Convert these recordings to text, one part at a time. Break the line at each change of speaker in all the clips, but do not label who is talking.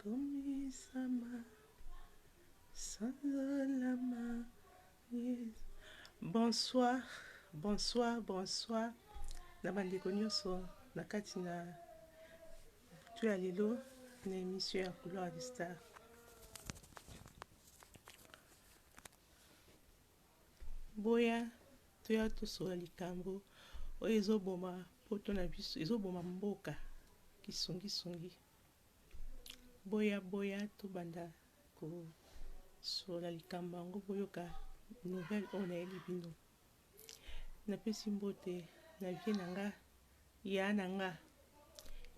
Ekomisama sanza la magie. Bonsoir bonsoir bonsoir na ba ndeko nionso na kati na butu ya lelo na emission ya couloir du star. Boya toya tosolola likambo oyo ezo boma poto na biso ezo boma mboka kisungi sungi boya boya tobanda ko solola likambo yango boyoka nouvelle oyo nayebi bino napesi mbote na vie na nga ya na nga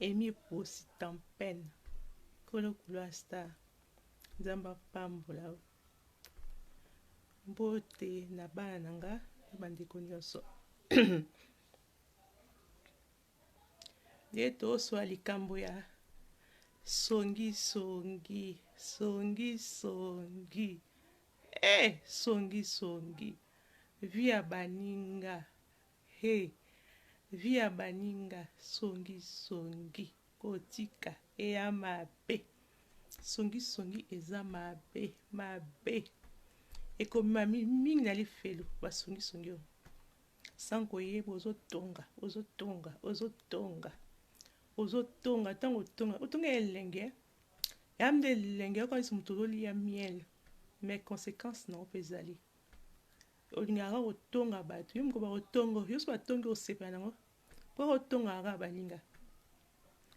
emi eposi tempene kolo kuloa star nzambe apambola Mbote na bana na nga na bandeko nyonso. Nde toswa likambo ya songi songi songi songi eh songi songi vie ya baninga He vie ya baninga songi songi kotika eya mabe songi songi eza mabe mabe ekomema mingi na lifelo ba songi songi oyo sans koyeba ozotonga ozotonga ozotonga ozotonga ntango otonga otonga elenge ya nde elenge okanisi moto ozoliya miel mais conséquence na yo mpe ezali Olingaka kaka kotonga batu yo moko bako tongo yo soki batongi okosepela nango po oko tongaka kaka baninga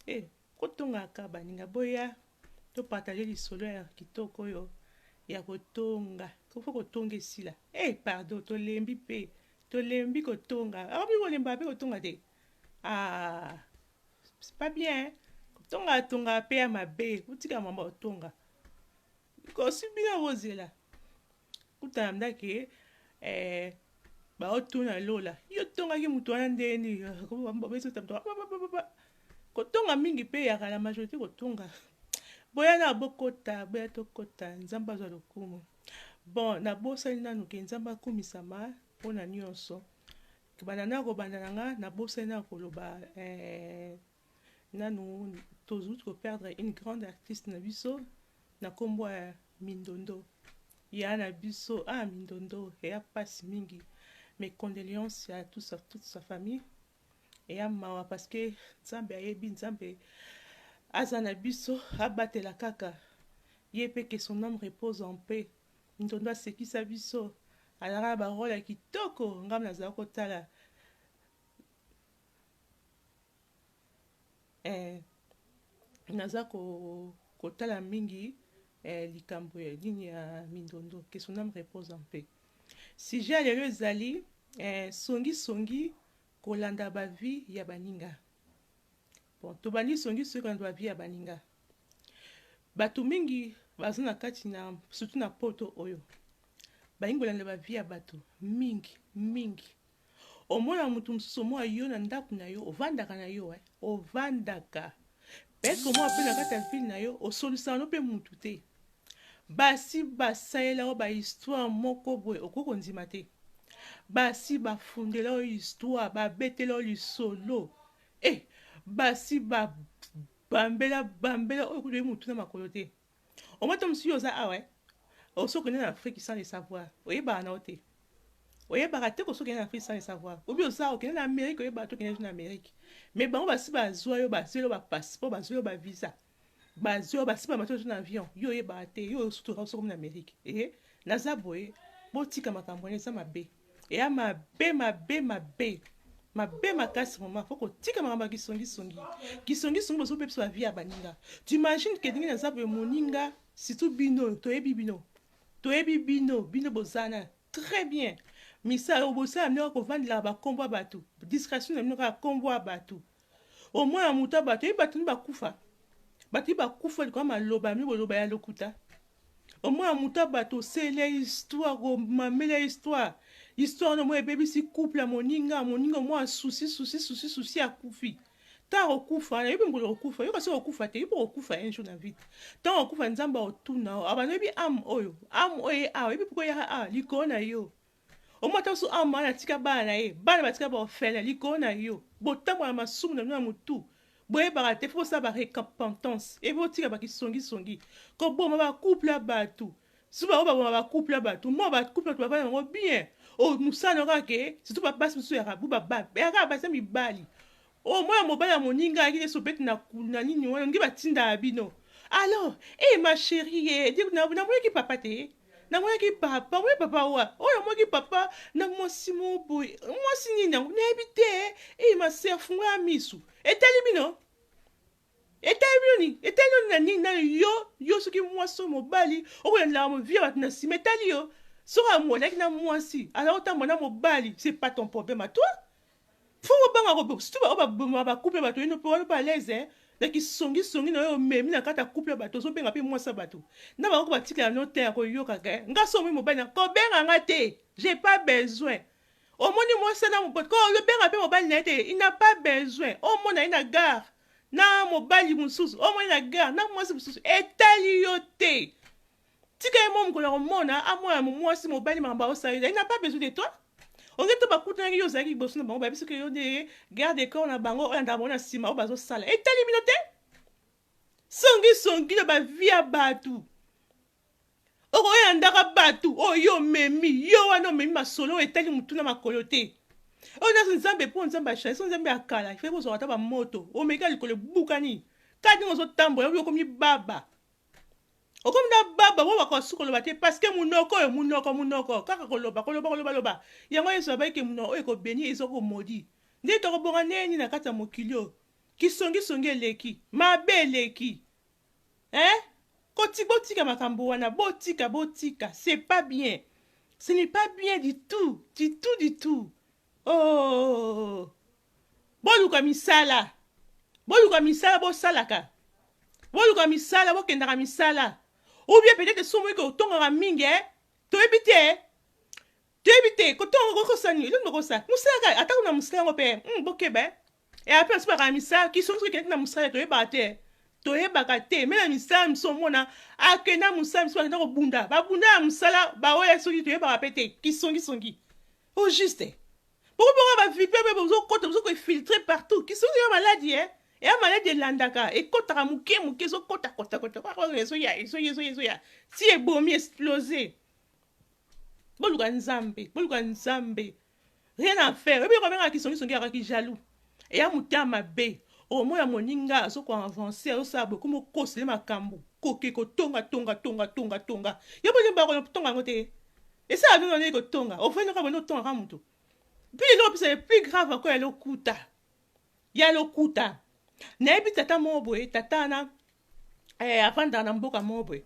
eh oko tongaka kaka baninga boya to partager lisolo ya kitoko oyo ya kotonga ko faut kotonga esila eh pardon tolembi pe tolembi kotonga akomi kolemba pe kotonga te ah c'est pas bien hein? kotonga tonga pe ya mabe kotika mama otonga kosi bino kozela Kuta na mda ke eh, baotuna lola yo tongaki moto wana ndenge nini kotonga mingi mpe eyaka na majorité kotonga boya na bokota boya tokota nzambe azwa lokumu bon nabosani nanu ke nzambe akumisama mpo na nyonso banda na kobanda na nga nabosani na koloba eh, Nanu tozui ko perdre une grande artiste na biso na kombo ya Mindondo. Ya na biso ah Mindondo eya pasi mingi. Mes condoleances à tous à toute sa famille. Eya mawa parce que Nzambe ayebi Nzambe aza na biso abatela kaka ye pe que son âme repose en paix. Mindondo asekisa biso azalaka na ba role ya kitoko ngai nazala kotala eh, naza ko kotala mingi eh, likambo ya nini ya mindondo que son âme repose en paix sujet ya lelo ezali eh, songisongi kolanda bavie ya baninga bon tobandi songisongi kolanda bavie ya baninga bato mingi baza na kati na surtout na poto oyo balingi kolanda bavie ya bato mingi mingi Omona mutu mususu omoa yo na ndaku na yo ovandaka na yo eh ovandaka est-ce que omoa pe na kati ya ville na yo osolisaka no pe mutu te basi basalela yo ba histoire moko boye okoki kondima te basi bafundela yo histoire babetela yo lisolo eh basi ba bambela bambela oyo kutu oyebi mutu na makolo te Omata omusuyo oza awa eh. Oso kende na Afrique sans le savoir. Oyebaka na ote. Oyebaka te koso kende na Afrique sans le savoir. Obi oza okende na Amerique oyebaka to kende na Amerique. Mais bango basi bazwa yo bazwe yo ba passeport bazwe yo ba visa. Bazwe yo basi ba mato na avion. Yo oyebaka te yo osutu oso komi na Amerique. Eh naza boye botika makambo wana eza mabe. Eya mabe mabe mabe mabe makasi mama faut kotika makambo ya kisongisongi kisongisongi bozobebisa ba vie ya baninga tu imagine ke ndenge naza boye moninga surtout bino toyebi bino toyebi bino bino bozana très bien misa obosala bino kaka kovandelaka bakombo ya bato discrétion na bino kaka kombo ya bato Oyo mwana ya moto abata ye bato ni bakufa bato ni bakufa likolo maloba mi boloba ya lokuta oyo mwana ya moto ya bato oseli ya histoire komameli ya histoire histoire wana omoi ebebisi couple ya moninga moninga omoi susi susi susi susi akufi ntango okufa wana yebi mbula okufa yoka soki okufa te yebi okufa un jour na vie te ntango okufa nzambe aotuna abanda oyebi ame oyo ame oyo ye awa yebi mpo koya awa likolo na yo Omata osu awa mwana atika bana na ye bana batika ba orphelin likolo na yo botambwa na masumu na bino na motu boyebaka te fo bosala ba recapentance epe botika bakisongisongi koboma ba couple ya bato surtout bango baboma ba couple ya bato mwa ba couple bato bavanda yango bien o mosala na kaka ke surtout babasi mosusu ya rabu babaka basa mibali o mwana mobali ya moninga ayaki nde sobeti na kulu na nini wana ngi batindaka bino alors e eh, ma cherie eh, namonaki papa te Namonaki papa boye, papa wa oyo amonaki papa na mwasi mo boye, mwasi nini yango nayebi te. Ii ma sœur, fungola misu, etali bino etali bino nini? Etali yo na nini? Na yo yo, soki mwasi oyo mobali okolandaka movie ya bato na nsima, etali yo soki amonaki na mwasi aza kotambola na mobali, c'est pas ton problème à toi. Faut obanga ko surtout ba oyo ba boma ba couple ya bato oyino pe wana pe alaise na ki songi songi nayo omemi na kati ya couple ya bato ozo benga pe mwasi ya bato na bango batikela no tein ako yoka ke nga soki omoni mobali na ko benga nga te j'ai pas besoin omoni mwasi ya na mobote ko benga pe mobali naye te il n'a pas besoin omona ye na gare na mobali mosusu omoni na gare na mwasi mosusu etali yo te Tika ye mwa mokolo ya komona amona mo mwasi mobali makambo aosala yo ezali na pas besoin de toi oke to bakutanaki yo ozalaki liboso na bango bayebisi ke yo nde garde de corps na bango oyo andaka bango na nsima oyo bazosala etali bino te songi songi na bavi ya bato okoyandaka bato oyo omemi yo wana omemi masolo oyo etali motu na makolo te oyo nazo nzambe mpo nzambe achange so nzambe ya kala ifai kozwaka ata bamoto omeka likolo ebukani kaka ndenge ozotambola obi okomi baba Okomi na baba oyo bakoka su koloba te parce que munoko oyo munoko munoko kaka koloba koloba koloba loba yango yesu abaki ke munoko oyo eko beni ezo ko modi nde toko bonga ndenge nini na kati ya mokili oyo kisongi songi eleki mabe eleki eh koti botika makambo wana botika botika c'est pas bien ce n'est pas bien du tout du tout du tout Oh! Boluka misala. Boluka misala bosalaka. Boluka misala bokendaka misala. Ou bien peut-être somo eke otongaka mingi eh? Toyebi te. Toyebi te kotonga kokosani elongi kokosa. Mosalaka atako na mosala yango pe. Hmm, bokeba eh? e ape basi bakana misala kiso biso ekendeki na mosala toyebaka te toyebaka te me na misala miso omona akenda mosala miso bakenda kobunda babunda ya mosala baoya soki toyebaka mpe te kisongisongi au juste bokobonga bavipe mpe bozokota bozokoefiltre partout kisongi ya maladi e eh? eya maladi elandaka ekotaka moke moke ezokotakotakotaezoya ezoya ezoya ezoya si ebomi explose boluka nzambe boluka nzambe rien à faire oyebi eloko abengaka kisongisongi yaka kijaloux eya motema mabe omo ya moninga azoko avance azosala boye komi okosele makambo koke kotonga tonga tonga tonga tonga yo mpe ozemba kotonga yango te esala bino nini kotonga ofandi kaka boni otongaka moto mpe eloko mpesa le plus grave ako ya lokuta ya lokuta nayebi tata moko boye tata wana eh, afandaka na mboka moko boye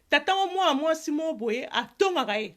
tata yango mwana mwasi moko boye atongaka ye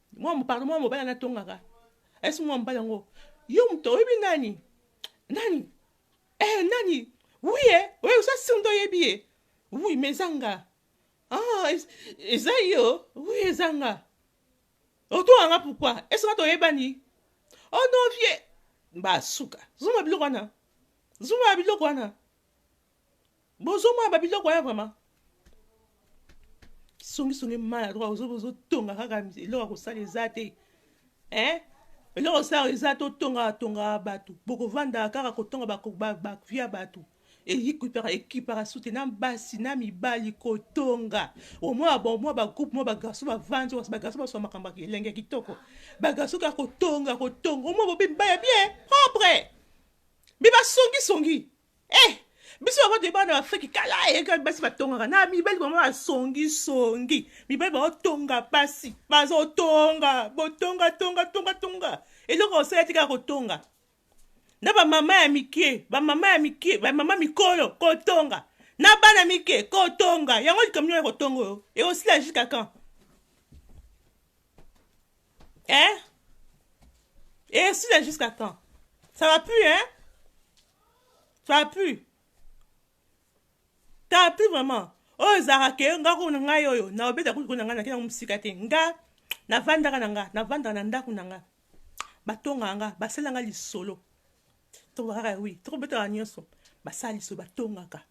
Mwa pardon mwa mobali na tongaka. Est-ce mwa mobali yango? Yo moto oyebi nani? Nani? Eh nani? Oui eh, oui osa sindo yebi eh. Oui mais zanga. Ah, eza yo. Oui ezanga. Otonga nga pourquoi? Est-ce que toyebani? Oh non vieux. Ba suka. Zuma biloko wana. Zuma biloko wana. Bozo mona ba biloko ya vraiment. Songi songi mala droit ozo bozo tonga kaka eloko kosala eza te. Hein? Eloko osala eza to tonga tonga batu. Boko vanda kaka kotonga ba ba, ba via batu. eyikipaka ekipaka sute na basi na mibali kotonga omwa bamwa bagroupe mwa bagarso bavandi wasi bagarso baswa makambo ya elenge ya kitoko bagarso kaka kotonga kotonga omwa bobi mibali ya bien propre mbi basongisongi Eh! biso yango toyeba na afriki kala eyekaki basi batongaka na mibali bango basongisongi mibali baotonga basi bazotonga botonga tonga tonga tonga eloko osala tika kotonga na bamama ya mike bamama ya mike bamama mikolo kotonga na bana mike kotonga yango likambo nio ya kotonga oyo ekosila jusqu'à quand Hein Et si là jusqu'à quand Ça va plus, hein Ça va plus. Ça va plus vraiment. oyo ezalaka ke nga ko na ngai oyo na obeta kutu na ngai na kenda mosika te nga navandaka na nga navandaka na ndako na nga batongaka nga basala nga lisolo tobakaka wi tokobetaka nyonso basala lisolo batongaka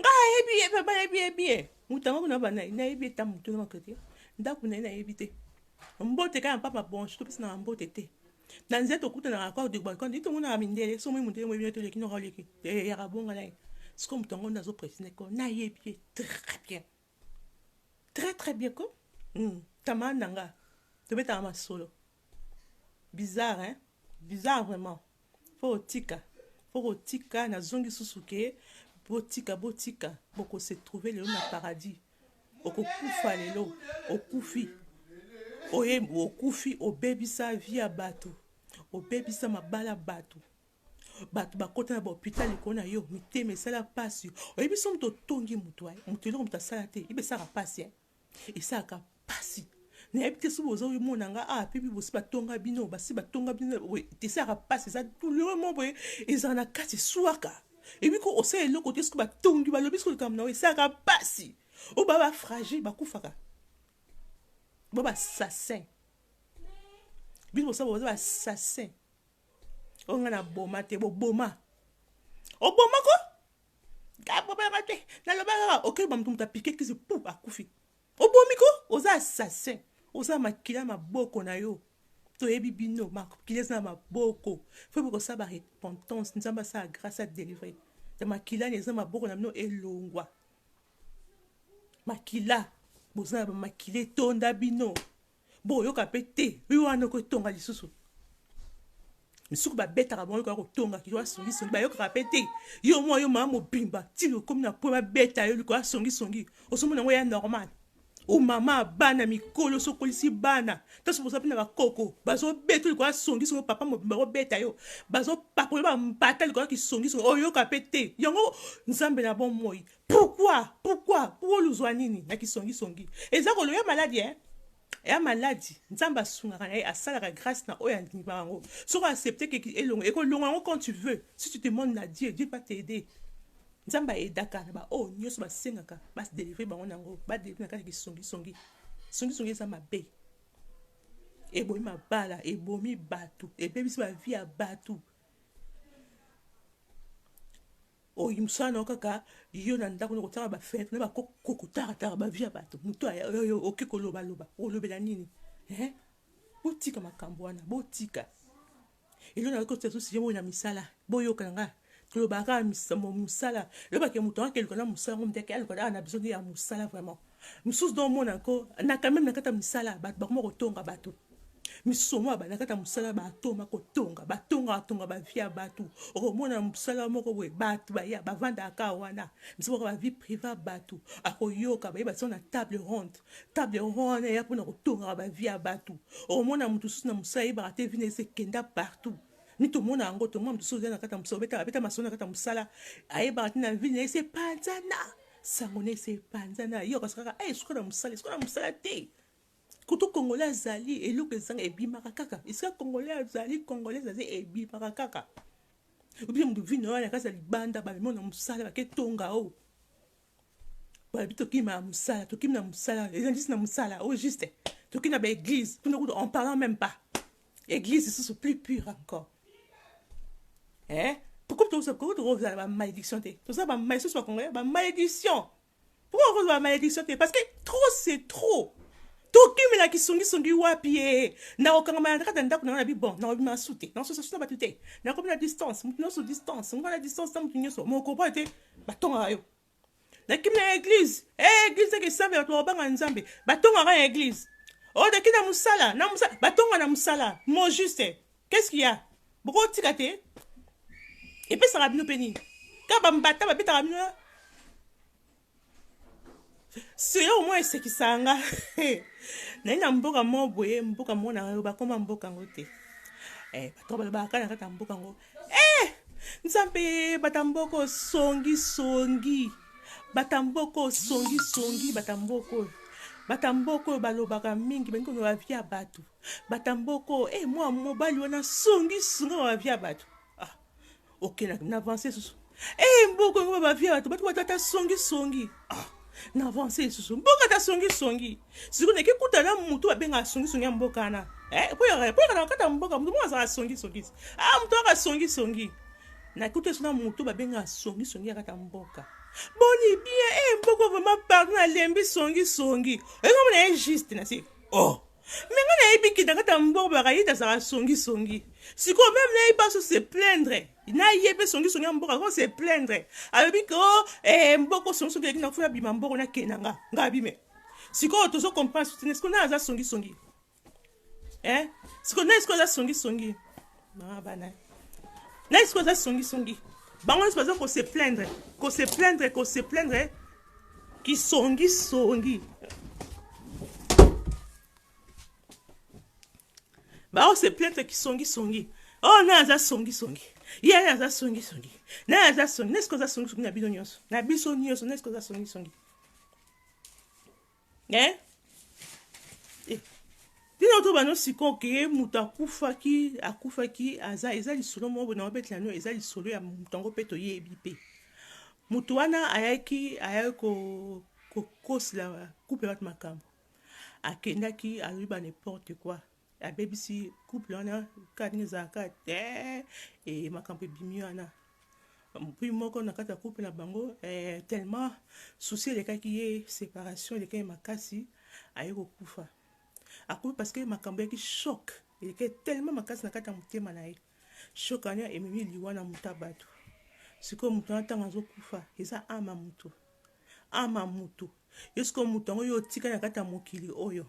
nga ayebi ye mpe bayebi ye bien motanga kuna bana nayebi ye ta motu na makoki ndako na ye nayebi te mbote kaka mpapa bonso topesi na mbote te na nzete okutanaka kwa debalcon ndi tomonaka mindele so moi mondele moyebi nete oleki noko oleki eyaka bonga na ye sikoyo motu yango nde azopresine ko nayebi ye très bien Très très bien ko hum camarade na nga tobetaka masolo bizarre hein bizarre vraiment faut otika faut kotika nazongi susu ke botika botika boko se trouver lelo na paradis okokufa lelo okufi oye okufi obebisa vie ya bato obebisa mabala bato Bato bakota na ba hopital likolo na yo, mitema esala pasi. Oyebi somo totongi moto, eh, moto eloko moto asala te, ibe esaka pasi, eh. Esaka pasi. nayebi te soki boza omona nga awa ah, mpe bibosi batonga bino basi batonga bino boye esalaka mpasi eza douleur mo boye ezala na kati eswaka ebi ko osala eloko te soki batongi balobi soki likambo na yo esalaka mpasi oyo ba bafragile bakufaka ba basasin bino bosala boza basasin oyo nga na boma te boboma oboma ko abomayaka te naloba kaka okei bamoto moto apike kisi pu akufi obomi ko oza assassin oza makila maboko na yo toyebi bino makila eza na maboko fo bokosala ba repentance nzambe asala grâce a délivré ya makila na eza maboko na bino elongwa makila boza na bamakila etonda bino Bo yoka pe te rue wana oko etonga lisusu misuku babetaka bango yoka kotonga kilo asongisongi bayokaka mpe te yo mwa yo mama mobimba ntina okomi na mpo babeta yo likolo asongisongi ozomona yango ya normal o mama bana mikolo so okolisi bana ntanso boza mpe na bakoko bazobeta yo likolo asongisongi papa mobimba kobeta yo bazopakola bambata likolo kisongisongi oyoka mpe te yango nzambe na bomoi Pourquoi? Pourquoi? Pourquoi luzua nini na kisongi songi? Eza kolo ya maladi eh? ya maladi nzambe asungaka na ye asalaka grâce na oyo andima yango soki accepte ke elongo ekolonga yango quand tu veux si tu te monde na dieu dieu va t'aider nzambe aedaka na baoyo oh, nyonso basengaka badelivre bango na yango badelivre na kati ya kisongisongi songisongi eza mabe ebomi mabala ebomi bato ebebisi bavi ya bato oyo mosala na yo kaka yo na ndako na kotala bafete na bakokotaratara bavi ya bato moto oyo oke kolobaloba olobela nini eh? botika makambo wana botika elo nayoki otia susi ye moi na misala boyokana nga tolobaka mosala elobake moto akake eluka na mosala ngo mdeke aluka aa na biso nde ya mosala vraiment misusu do mona ko na kameme na kata misala bato bakoma kotonga bato misusu omona bana kata mosala batoma kotonga batonga batonga bavi ya bato okomona mosala moko boye bato baya bavandaka wana misusu baka bavi prive ya bato akoyoka baye batia na table ronde table ronde wana ya mpona kotongaka bavi ya bato okomona moto mosusu na mosala yebaka te vina ese kenda partout ni tomona yango tomona moto mosusu oza na kata mosala obeta abeta masolo na kata mosala ayebaka te na vina ese panzana sango na ese epanza na yo kasi kaka eh, suka na mosala suka na mosala te kutu congolais azali eloko ezanga ebimaka kaka esika congolais azali congolais azali ebimaka kaka obie moto vino wana kasa libanda bamemo na mosala baketonga o oh. balobi tokima na mosala tokimi na mosala ezalisi na mosala o oh, juste tokimi na baeglise tuna kutu en parlant même pas eglise lisusu plus pure encore eh? pourquoi tokozala bamalédiction te toza bamalisusu bakongolais bamalédiction pourquoi okozwa bamalédiction te parce que trop c'est trop tokimela kisungisungi wapi ye nakokangama na kati ya ndako nanga na bibon nakobima su te nakososasu na bato te nakomi na distance moto nyonso distance ngai na distance na moto nyonso mokoboya te batongaka yo nakimi na eglise hey, eh, eglise eke esambe bato bakobanga nzambe batongaka na eglise oyo oh, naki na mosala na mosala batonga na mosala mo juste qu'est-ce qu'il y a bokotika te epesaka bino mpe nini ka bambata babetaka bino selo omoi esekisaka nga naye na mboka mo boye mboka mona yo bakoma mboka yango te eh, bato balobaka kaka na kati ya mboka yango Eh! Nzambe batamboko songi songi. Batamboko songi songi batamboko. Batamboko oyo balobaka mingi balingi koloba vie ya bato. Batamboko eh mwa mobali wana songi songi ba vie ya bato. Ah. Okay na, na avance susu. Hey, eh, mboko yango babavia bato bato batata songisongi ah, na avance lisusu mboka ta songisongi sikoyo nake kuta na motu babengaka songisongi ya mboka wana eh, mpo yaka na kata mboka motu moko azala songisongi ah, motu yaka songisongi nakuta esu na motu babengaka songisongi ya kata mboka boni bien e eh, mboko vraimen pardon nalembi songisongi oyenga mona ye juste na se oh me nga nayebi kidakata mboko bakayita azala songisongi sikoyo meme nayebi baso se plaindre na ye mpe songisongi ya mboka ko se plaindre alobi ke o eh, mboko songisongi eleki na fo ya bima mboko nakee na nga nga abime sikoyo tozo comprendre soutene sikoyo nani aza songisongi eh? sikoyo nani sikoyo aza songisongi mama bana nani sikoyo aza songisongi bango nyonso baza kose plaindre kose plaindre kose plaindre kisongisongi Ba ose plainte ki songi songi. Oh na aza songi songi. Ye na aza songi songi. Na aza songi. Nesko aza songi songi na bino nyonso. Na biso nyonso nesko aza songi songi. Eh? Eh. Tino to bano siko ke mutu akufaki akufaki aza eza lisolo moko na obetela no eza lisolo ya mutu yango pe toyebi pe. Mutu wana ayaki ayaki ko kokosela couple watu makambo. akendaki alobi ba n'importe quoi abebisi couple wana kani ezalaka te e makambo ebimi wana mpi moko na kati ya couple na bango eh, tellement souci elekaki ye séparation elekaki ye makasi aye kokufa akufi parce que makambo yaki choc elekaki tellement makasi na kati ya motema na ye choc wana ememi liwa na moto ya bato sikoyo moto wana ntango azokufa eza ama moto ama moto Yo sikoyo moto yango yo otika na kati ya mokili oyo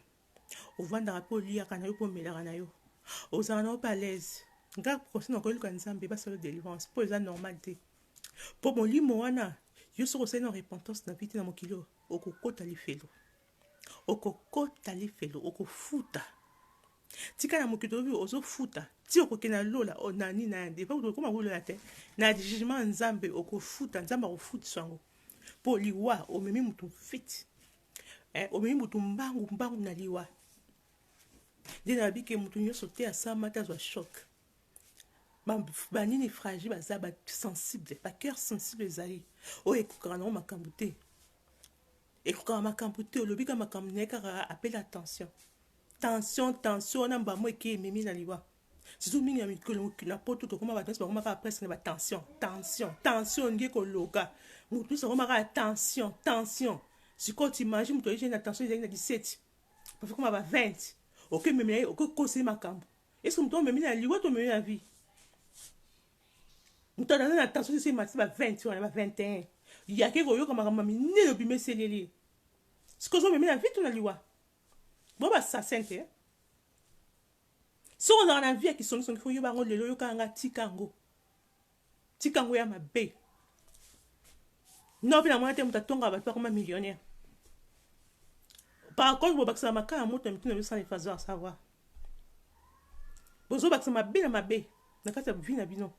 ovandaka mpe oliyaka na yo mpe omelaka na yo ozalaka na yo mpe alaise nga conseil na koyeluka nzambe basala delivrance mpo eza normal te mpo molimo wana yo soki osali na repentance na vite na mokili oyo okokota lifelo okokota lifelo okofuta tika na mokili obi ozofuta ti okokende na lola oh, na nini na yande epai kutu okoma kolola te na jugement nzambe okofuta nzambe akofutisa yango mpo liwa omemi motu mfiti eh, omemi motu mbangu mbangu na liwa nde nayebi ke motu nyonso te asama te azwa choc banini fragile baza basensible bacoeur sensible ezali oyo ekokaka nango makambo te Ekokaka makambu te olobi kaka makambu naye kaka appel à tension tension tension wana mbambu eke ememi na liwa surtout mingi na mikolo na poto tokoma bato nyonso bakoma kaka presque na ba tension tension tension olingi ekologa moto nyonso akoma kaka tension tension sikoyo t'imagine moto ayei na tension ezali na 17 pafi koma ba 20 okememela ye okokosa ye makambo eske moto omemi na liwa to omemi na vie moto aza na tension soso emati ba 20 wana ba 21 yake koyoka makambo ya minene obimeseli ye lie sikoyo ozomeme na vitu na liwa bo basasin te soki ozalaka na vi ya kisongisongi fo yoba yango lelo yokaka nga tika yango tika yango ya mabe no mpe namona te moto atongaka bato bakoma millionnaire par contre bobakisaka makala moto na mituna yosala efazar savoir Bozo bakisa mabe na mabe na kati ya vie na bino.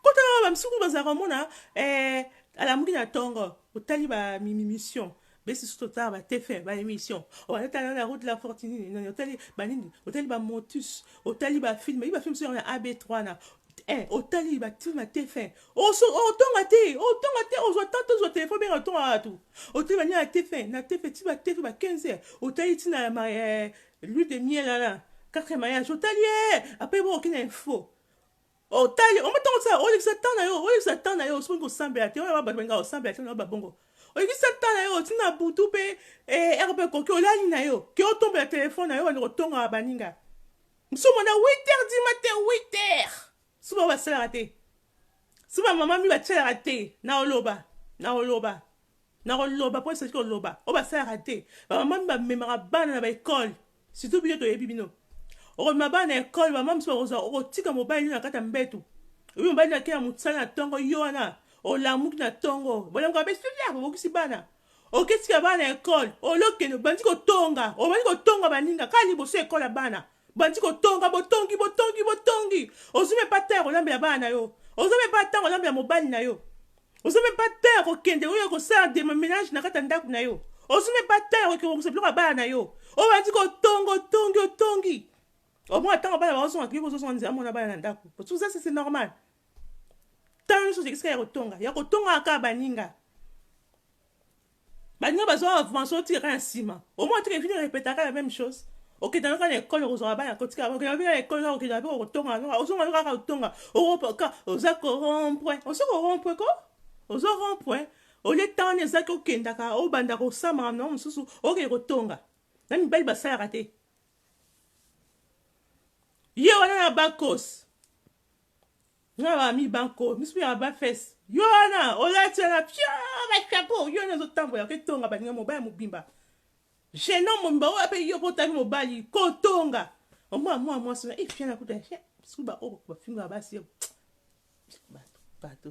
Kotala ba misusu bazala komona eh alamuki na tongo otali ba mimimission besi susu totala ba tf ba emission oyo tala na route de la fortune na otali ba nini otali ba motus otali ba film ba film sur na AB3 na eh otali ba film tf oso otonga te otonga te ozwa temps tozwa telefone benga otonga kaka tu otali bania na tefe na tefe ti batefe ba 15 heures otali ntina ya ma eh, l'huile de miel wana quatrième mariage otali ye apres bo okende na info otali omo ntango osala olekisa temps na yo olekisa temps na yo soki kosambela te oyo bato balinga kosambela te na babongo olekisa temps na yo ntina butu mpe eh, ere mpe ekoki olali na yo ke otombela telefone na yo bandi kotonga baninga mosusu mona 8 heures du matin 8 heures Suba basalaka te. Suba mama mi batyalaka te. Nakoloba, nakoloba, nakoloba mpo esaki koloba oyo basalaka te. Bamama mi bamemaka bana na baekole, surtout bino toyebi bino. Okomema bana na ekole, bamama mosusu bakozwa, okotika mobali na kati ya mbetu. Oyebi mobali na kei ya mosala na ntongo, yo wana olamuki na ntongo, bolamuka be studia, obokisi bana oketika bana na ekole, olokende obandi kotonga, obandi kotonga baninga kaka liboso ekole ya bana Bandi ko tonga bo tongi bo tongi bo tongi ozui meme pas temps ya ko lambela bana na yo oza meme pas temps ko lambela mobali na yo oza meme pas temps ya ko kende oya ko sala de menage na kati ya ndaku na yo ozui meme pas temps ya ko ke bongisa biloko ya bana na yo obandi ko tonga otongi otongi omona ntango bana baozonga kiki kozozonga nzela mona bana na ndako otuza sese normal ntango nyonso ozekisika ya kotonga ya kotongaka baninga baninga bazo avance otika kaka na nsima omoi atika evini repeta kaka meme chose okenda yoka na ekole okozwaka bana kotika okenda mpe na ekole kaka okenda mpe okotonga noka ozonga yoka kaka otonga okopoka oza korompwe osi korompwe ko ozo rompwe olie temps wana ezaki okendaka obanda kosambaka na mosusu okende kotonga na mibali basalaka te ye wana na bakos Nga ba mi banco misu ya ba fesse yo wana olati wana pioo ba chapeau yo wana ozo tambola ke tonga ba ninga mobali mobimba jeune homme mobimba oyo pe yo pe otami mobali ko tonga omona mwana mwasi wana eh fiana kuta eh bisu ba oyo ba finga basi yo bato bato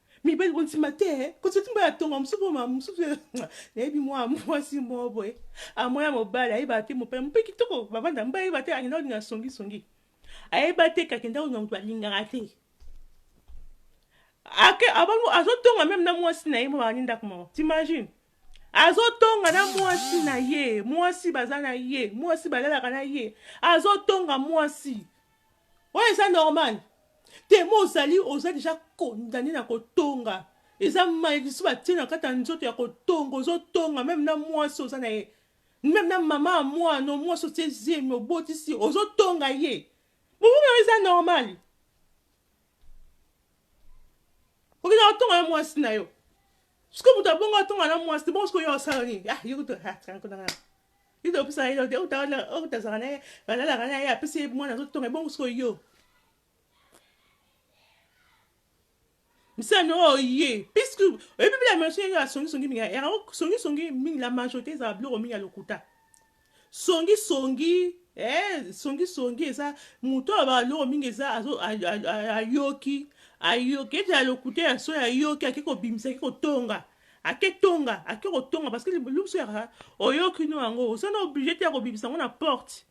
Mibali kondima te eh. Kondima te mobali atonga mosusu mpo ma mosusu eh, nayebi mwa mwasi moko boye amoya mobali ayebaka te mopaya mpe kitoko bavanda mobali ayeba te akenda kolinga songi songi ayeba te kakenda kolinga moto alingaka te ake abango azotonga meme na mwasi na ye mo bakani ndako moko t'imagine azotonga na mwasi na ye mwasi baza na ye mwasi balalaka na ye azotonga mwasi Oyo eza normal temo ozali oza deja condamne na kotonga eza maledictio batie na kati ya nzoto ya kotonga ozotonga meme na mwasi oza na ye meme na mama ya mwana mwasi otie zemi obotisi ozotonga ye bobomana eza normali okenda kotonga na mwasi na yo soki moto abongo atonga na mwasi te bongo soki oyo osala nini ah, Ida opesa ye te otala otazaka na ye balalaka na ye apesi ye mwana azotonga ebongo siko yo misano oye oh, puisque oyebi bila maso ye asongisongi mingi yango songisongi mingi la majorité ezala biloko mingi ya lokuta songisongi eh, songisongi eza moto oyo baloko mingi eza ayoki ayoki ete ya lokuta ya soki ayoki ake kobimisa ake kotonga Ake tonga ake kotonga parce que liboso ya oyoki no yango oza na oblige te ya kobimisa yango na porte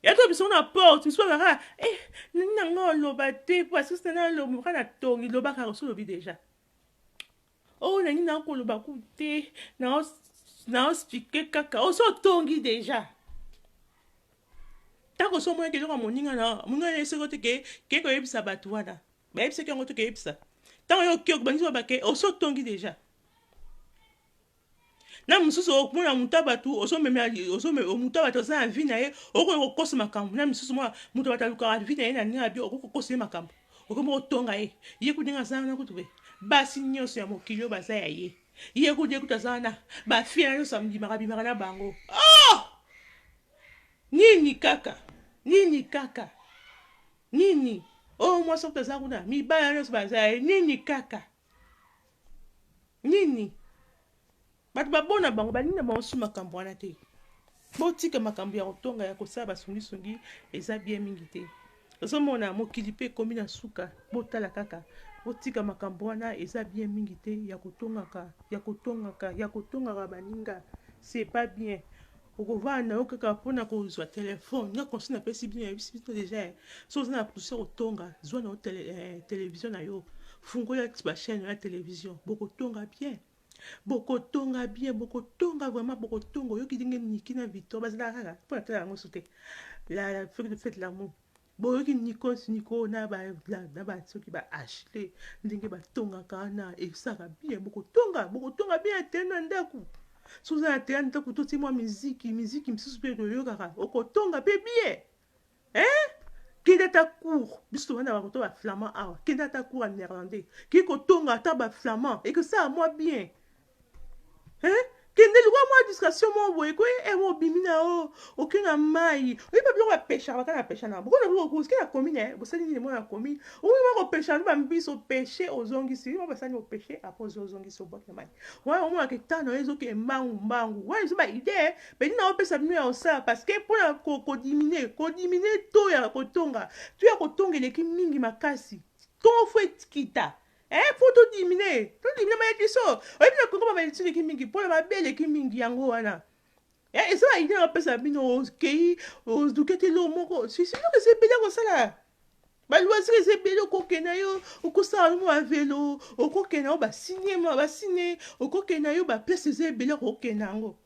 ya tobimisa yango na porte misusu kaka eh nini nanga oloba te po asusu tena aloba kaka na tongi loba kaka osi olobi deja oyo nangi nanga koloba ku te naospike kaka osi otongi deja ntango osi omonaki eloko ya moninga na moninga na ye soki ote ke ke koyebisa bato wana Bayebisaki yango te keyebisa. Ntango yo oke okobandisi baba ke osi otongi deja. Na mosusu okomona moto ya bato ozomemela moto ya bato aza na vi na ye okoki kokosa makambo na misusu mwa moto ya bato alukaka vi na ye na ndenge ya bio okoki kokosa ye makambo okomi kotonga ye ye kutu ndenge aza wana kutu be basi nyonso ya mokili oyo baza ya ye ye kutu ye kutu aza wana bafie na nyonso amdimaka bimaka na bango oh! nini kaka nini kaka Nini oyo mwasi okuta aza kuna mibala nyonso baza ye nini kaka nini bato babona bango balingi na bango su makambo wana te botika makambo ya kotonga ya kosala basungisungi eza bie mingi te ozomona mokili mpe ekomi na suka botala kaka botika makambo wana eza bie mingi te ya kotongaka ya kotongaka ya kotongaka baninga c'est pas bien Okovanda na yo kaka mpo na kozwa telefone. Nga conseil napesi bino, nayebisi bino deja, eh. Soki oza na pousi ya kotonga, zwa na yo tele, eh, television na yo. Fungola ba chaîne na yo ya television. Bokotonga bien. Bokotonga bien, bokotonga vraiment, bokotonga. Oyoki ndenge Nicky na Victor bazalaka kaka? Mpo natalaka yango so te. La, la, fete de l'amour. Boyoki Nikos Niko na ba na ba soki ba Ashley ndenge batongaka wana esaka bien bokotonga bokotonga bien ete na ndako soki oza na tea ndako toti mwa miziki miziki misusu mpe toyokaka okotonga mpe bien eh? kende ata cour biso tobanda bakoto ba flamand awa kende ata cour ya néerlandais kei kotonga ata ba flamand ekosala mwa bien Hein? kende lukwa mwa distraction moko boye ko eh, eh obimi na o oke na mai oyebi biloko ya pesha baka na pesha na bokona biloko koske na commune eh bosali nini mwana commune oyebi mwa kopesha na bambisi opeshe ozongisi mwa basani opeshe apo ozo ozongisi obwaki na mai wana omona ke temps na yo ezoke mbangu mbangu wana ezo ba idee beni na opesa bino ya osala parce que mpo na kodimine kodimine to ya kotonga to ya kotonga eleki mingi makasi ntongo fo ekita Eh, po to dimine, to dimine ma biso. Oyebi na Congo ba maledictions eleki mingi, pole mabe eleki mingi yango wana. Eh, eza ba idée napesa bino okei ozukete lo moko. Si si loke se bela kosala. Ba loisir eza ebele okokenda yo okosala no ba velo, okokenda yo ba cinéma, ba ciné, okokenda yo ba place eza ebele okokenda yango.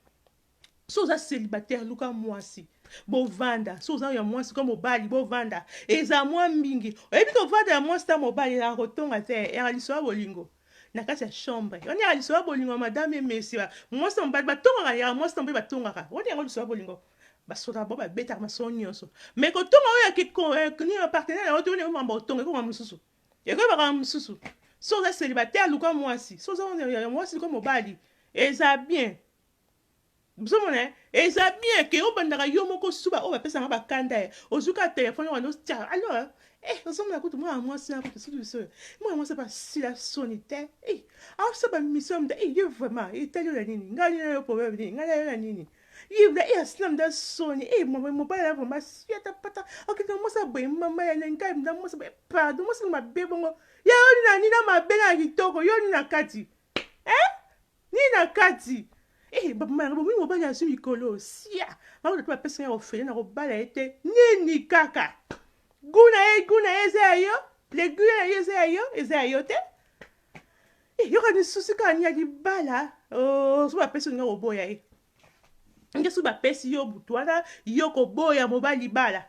so oza celibataire luka mwasi bovanda so oza ya mwasi ka mobali bovanda eza mwa mingi oyebi kovanda ya mwasi ta mobali ezala kotonga te eyaka liso ya bolingo na kati ya chambre wana yaka liso ya bolingo madame emesi mwasi na mobali batongaka yaka mwasi na mobali batongaka wana yango liso ya bolingo basoda bo babetaka masolo nyonso me kotonga oyo ya kikoni ya partenaire yango toyoni yango mambo otonga ekoma mosusu ekomi makambo mosusu so oza celibataire luka mwasi so oza ya mwasi luka mobali eza bien Bozo mona eh? Eza bien que obandaka yo moko su ba oyo ba pesaka ba kanda eh. Ozwi ka telephone wana otia alors eh ozo mona kutu mwana mwasi na kutu sutu solo. Mwana mwasi ba sila soni te. Eh azo sa ba mission mda eh yo vraiment eh tali na nini? Ngai na yo problème nini? Ngai na yo na nini? Yibla eh asila mda soni eh mama mobali na vraiment siata pata. Ok na mwasi boye mama ya ngai mda mwasi boye pardon mwasi mabe bongo. Ya yo na nini na mabe na kitoko yo ni na kati? Eh? Nini na kati? Eh, ba mama na bomi mobali azwi mikolo. Sia. Ba oyo ba pesa nga ofele na kobala ye te. Nini kaka? Goût na ye, goût na ye eza ya yo? Le goût na ye eza ya yo? Eza ya yo te? Eh, yoka ni souci kaka ni ya libala. Oh, so ba pesa nga koboya ye. Ngesu ba pesi yo butu wana yo oko boya mobali libala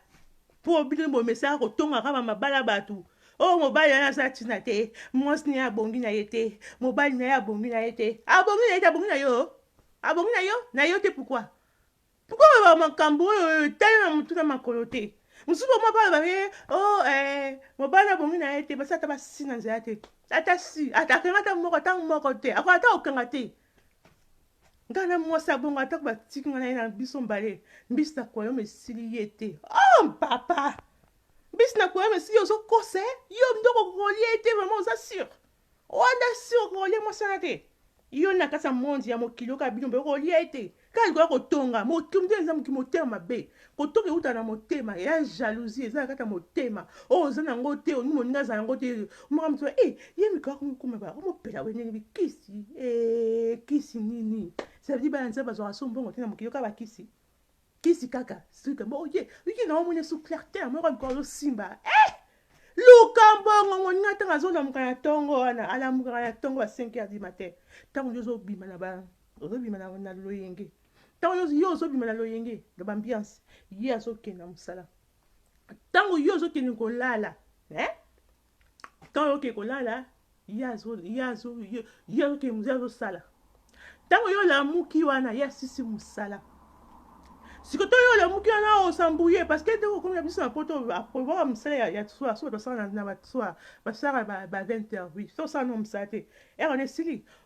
po bino bomesaka ko tonga ka ba mabala batu oyo mobali wana aza tina te mwasi na ye abongi na ye te mobali na ye abongi na ye te abongi na ye te abongi na yo abongi na yo na yo te pourquoi pourquoi oloba makambo oyo oyo etali na motu na makolo te mosusu bango moko aloba ye o oh, eh, mobali abongi na ye te basi ata basi na nzela te ata si akenga ata moko ata moko te akoka ata okanga te nga na mwasi ya bongo atako batiki nga na ye na biso mbale mbisi na koyoma esili ye te o oh, papa mbisi na koyoma esili ye ozokose yo nde okokolia ye te vraimen oza sur wanda sur okokolia mwasi wana te yo na kati ya mondi ya mokili oyoka bino mpe okolia ye te Kaka likoya kotonga motumtu eza moki motema mabe kotoka euta na motema ya jalousie eza kata motema o oh, oza na ngo te olingi moninga aza na ngo te omaka moto e eh, ye mikoya komokoma ba omopela we ndenge bikisi e eh, kisi nini ça veut dire bana nzambe bazwaka so mbongo te na mokili yoka bakisi kisi kaka suka bo oye oye na omoni su clair te moko mikoya ozosimba eh luka mbongo moninga ntango azolamuka na ntongo wana alamukaka na ntongo ba 5 heures du matin ntango yo ozobima na ba Ozo bima na na loyenge. Tango yo yo ozo bima na loyenge na b'ambiance, ye azo kende na musala. Tango yo ozo kende kolala, eh? Tango yo ke kolala, ye azo ye azo ye ye azo ke musala azo sala. Tango yo lamuki wana, ye asisi musala. Siko to yo olamuki wana osambouye parce que ndenge okomi na biso na poto aprovaka musala ya, ya soir soki basala na, na ba soir basala ba, ba 20 heures oui so osala no musala te heure wana esili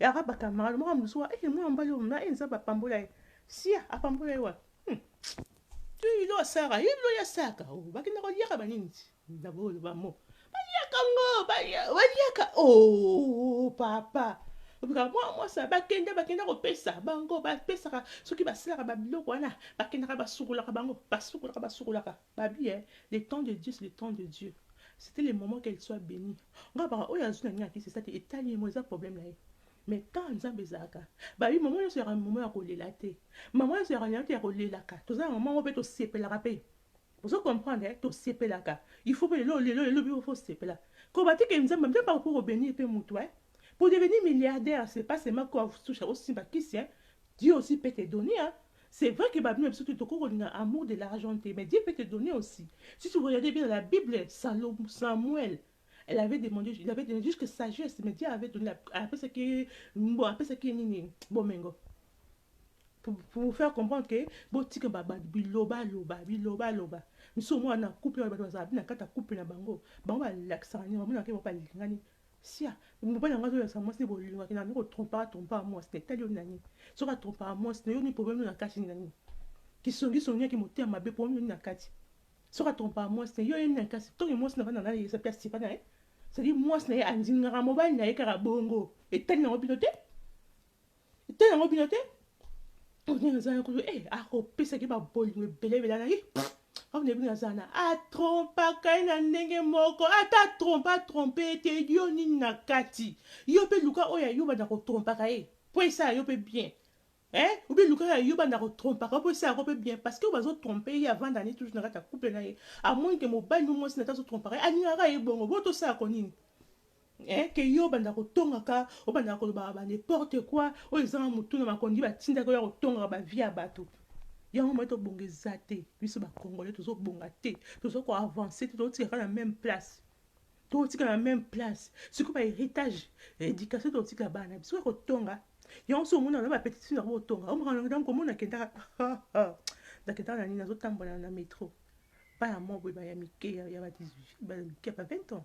Et après ba camarades, moi mususu wa, eh mwana mobali oyo mna, eh Nzambe apambola ye. Sia, apambola ye wapi? Hmm. Tu ilo asaka, ilo ya saka. Oh, bakenda ko liaka ba nini? Na bo ba mo. Ba liaka ngo, ba lia- ba liaka. Oh, papa. Obika mwa mwasa bakenda bakenda kopesa bango bapesaka soki basilaka babiloko wana bakendaka basukolaka bango basukolaka basukolaka Babia eh le temps de Dieu c'est le temps de Dieu c'etait le moment qu'elle soit benie nga nalobaka oyo azui na ngai na kisi eza te etali ye moko eza problème na ye mais temps ya nzambe ezalaka babi maman nyonso yaka maman ya kolela te maman nyonso yaka lela te ya kolelaka toza na maman moko mpe tosepelaka mpe ozo comprendre eh tosepelaka il faut mpe lelo lelo lelo biko faut sepela ko batike nzambe nzambe akoki kobenir mpe motu eh pour devenir milliardaire c'est pas seulement ko touche osimba kisi eh Dieu aussi peut te donner hein C'est vrai que ba bino na biso tout tokoki kolinga amour de l'argent te mais Dieu peut te donner aussi si tu regarder bien dans la bible salo Samuel elle avait demandé il avait donné jusque sagesse mais Dieu avait donné apesaki bon apesaki ye nini bomengo pour, pour vous faire comprendre que botika ba- ba- bilobaloba bilobaloba misusu omwana na couple wana bato bazala bina kata couple na bango bango balakisaka nini bamonaka ye bango balingani Sia mobali yango azo lakisa mwasi bolingo akenda nde ko trompaka trompaka mwasi na etali yo na nini soki a trompaka mwasi na yo nini problème na kati nini na nini kisongi songi ya kimotema mabe problème nini na kati soki a trompaka mwasi na ye yo ye nini na kasi tongi mwasi na bana na ye esapi asipa na ye c'est-à-dire mwasi na ye andingaka mobali na ye kaka bongo etali na yo bino te te yango bino te onene aza na kutu e akopesaki babolingo ebele ebele na ye aone bino aza na atrompaka ye na ndenge moko ata atrompe atrompe ye te yo nini na kati yo mpe luka oyo ayo banda kotrompaka ye mpo esala yo mpe bien eh ou bien lukaka yo banda ko trompa ko posa ko pe bien parce que bazo tromper ye avant d'année toujours na kata couple na ye amoni que mobali no mwasi na tazo trompa ye alingaka ye bongo bo to sa ko nini Eh que yo obandaka kotongaka obandaka kolobaka ba ne porte quoi oyo ezanga mutu na makondi batindaka oya kotongaka ba vie ya batu yango moyen tobonga eza te biso ba congolais tozobonga te toza ko avancer te tozotikaka na meme place tokotika na meme place sikoyo ba héritage éducation tokotikela bana na biso ya kotonga yango so omona na bapetiti na yango otonga omokanaa komona kendaka nakendaka na nini nazotambola na metro bana mwa boye baya mike ya mike ya ba 20 ans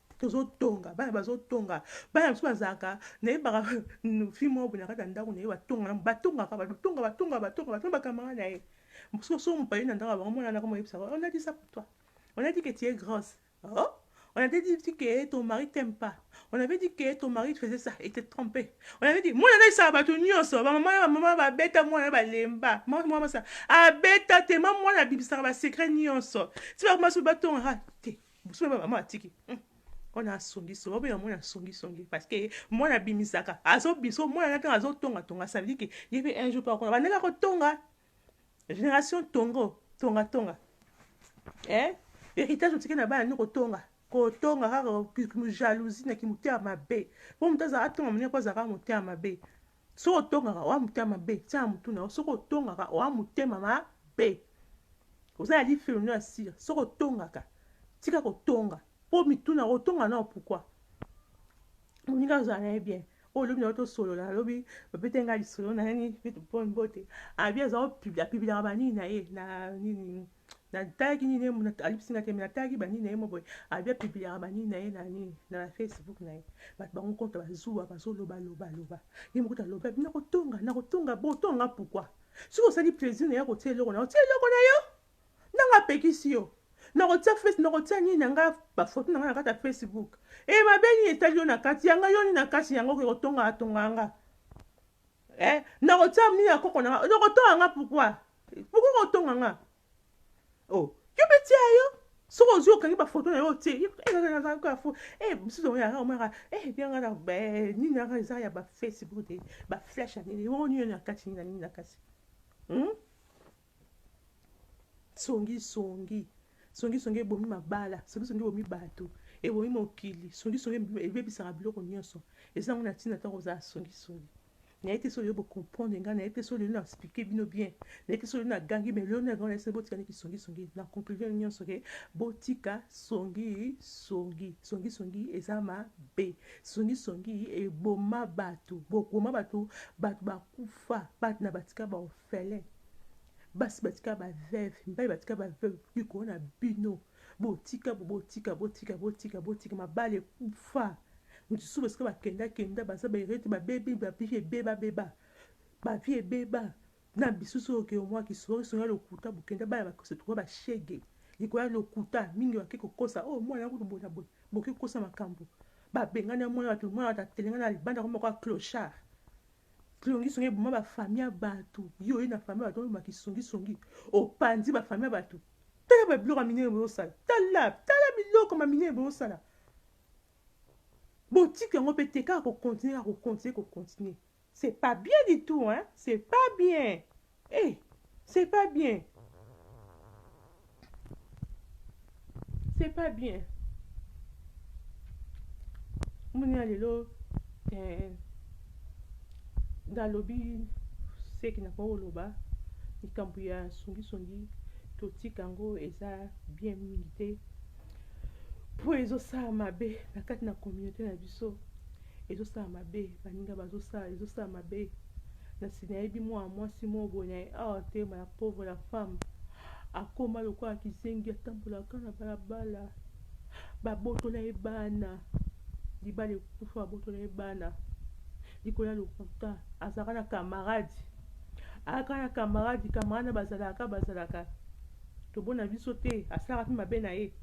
tozotonga bana bazotonga bana biso bazalaka nayebaka fille moko boye na kati ya ndako na ye batonga na batongaka batonga batonga batonga batonga bakamara na ye mosusu oso mopali na ndako bango mwana nako moyebisaka on a dit ça pour toi on a dit que tu es grosse oh on avait dit que ton mari t'aime pas on avait dit que ton mari faisait ça et t'es trompé on avait dit mwana naisaka bato nyonso bamama na bamama babeta mwana na balemba mwana sa abeta te ma mwana abibisaka basecret nyonso ti bakomasi batongaka te Buzoba ya maman atiki hum on a songi songi obenga mwana songi songi parce que mwana abimisaka azo biso mwana na tanga azo tonga tonga ça veut dire que ye pe un jour pa kona bandeka ko tonga génération tongo tonga tonga eh héritage otiki na bana ni ko tonga ko tonga kaka jalousie na kimotema mabe po moto azaka tonga monene po azaka motema mabe Soki otongaka oa motema mabe, tia na mutu na yo. Soki otongaka oa motema mabe. Oza na lifelo nde ya sila. Soki otongaka, tika kotonga. Po mituna yango otonga nao pourquoi? Moninga azala na ye bien. Oyo lobi na yo tosolola, nalobi babete nga lisolo na nani, bitu po mbote. Abi aza opibla, apibilaka banini na ye na nini. Na talaki nini ye muna ali bisinga te mais na talaki ba nini na ye mo boye abi a publiaka ba nini na ye na nini na na Facebook na ye bato bango kota ba zuwa ba zo loba loba loba ye moko ta loba bi na ko tonga na ko tonga bo tonga pourquoi soki osali plaisir na ye ko tia eloko na yo tia eloko na yo nanga apekisi yo na ko tia face na ko tia nini na nga ba photo na nga na kati ya Facebook e eh, ma beni etali yo na kati yanga yo ni na kati yanga ko tonga tonga nga Eh, nakotia mia ya koko na nga. Okotonga nga pourquoi? Pourquoi okotonga nga? Oh, yo mpe tia yo. Soki ozwi okangi bafoto na yo otie. Eh, eh, eh, nazalaki ya fo. Eh, mosusu oyo yaka omaka. Eh, bien nga na be nini yaka eza ya ba Facebook te. Ba flash ya nini? Yo nini na kati nini na nini na kati? Hmm? songi songi songi songi ebomi mabala songi songi ebomi bato ebomi mokili songi songi ebebisaka biloko nyonso eza yango na ntina ntango kozala songi songi naye te soki yo bocomprendre ngai naye te soki lelo na explike bino bien naye te soki lelo nagangi me lelo nagango naye soki botika niki songi songi na conclusion nyonso ke botika songi songi songi songi eza mabe songi songi eboma bato bokoma bato bato bakufa bato na batika baof Felin basi batika ba veuve mibali batika ba veuve likolo na bino botika botika botika botika botika mabala ekufa moto susu basika bakenda kenda baza baerete babebi bavie ebeba beba bavie ebeba na bisusu oyo ke omwa kisori songa lokuta bokenda bana bakosa tuka bashege likoya lokuta mingi bake kokosa oyo oh, mwana kutu boye na boye boke kokosa makambo babengana mwana bato mwana bato atelengana libanda komoko ya clochard Songi songi eboma ba famille ya batu. Yo oye na famille ya batu obima kisongi songi. Opanzi ba famille ya batu. Tala ba biloko ya minene bozosala. Tala, tala biloko ma minene bozosala. Botika yango pe te kaka ko continuer kaka ko continuer ko continuer. C'est pas bien du tout hein. C'est pas bien. Hey, c'est pas bien. C'est pas bien. Mounia lelo eh, nalobi seki na koloba likambo ya songisongi totika yango eza bien mingi te mpo ezosala mabe na kati na communauté na biso ezosala mabe baninga bazosala ezosala mabe nasi nayebi mwana mwasi moko boye na awa te ma la pauvre la femme akoma lokola kizengi atambolaka na balabala babotola ye bana libala ekufa babotola ye bana likolo ya lokuta azalaka na kamarade ayaka na kamarade kamarade na bazalaka bazalaka tobona biso te asalaka mpe mabe na ye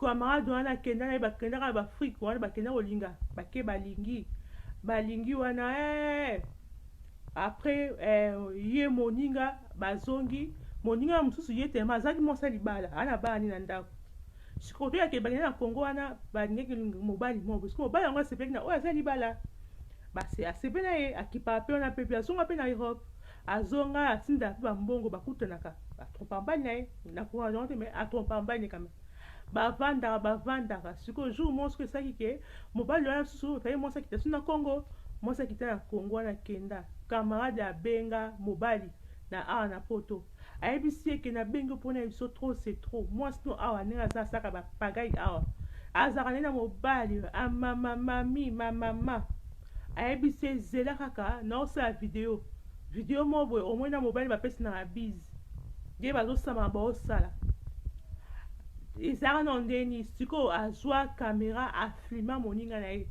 camarade wana akenda na ye bakendaka na baafrike wana bakenda kolinga bake balingi balingi wana ee eh. après eh, ye moninga bazongi moninga ya mosusu ye tema azalaki mwasi ya libala ana bana nde na ndako sikoto yake bakenda na kongo wana balingaki mobali moko soki mobali yango asepelaki na oyo aza libala asepeli na ye akipaka mpe wana mpe mpe azonga mpe na europe Azonga atinda pe ba mbongo ba kutanaka ba trompa mobali na ye na courage yango te mais a trompa mobali ne kame ba vandaka ba vandaka siko jour moko siko esaki ke mobali wana susu taye mwasi akita su na Congo mwasi akita na Congo wana kenda camarade abenga mobali na awa na poto ayebisi ye ke na bengi yo pona biso trop c'est trop mwasi no awa ndenge aza asaka ba pagai awa azaka ne na mobali amama mami mamama Ayebi se zela kaka nao sala video video moko boye omoni na mobali bapesi na bise ye bazosama baosala ezalaka nao ndeni sikoyo azwa kamera afilma moninga na ye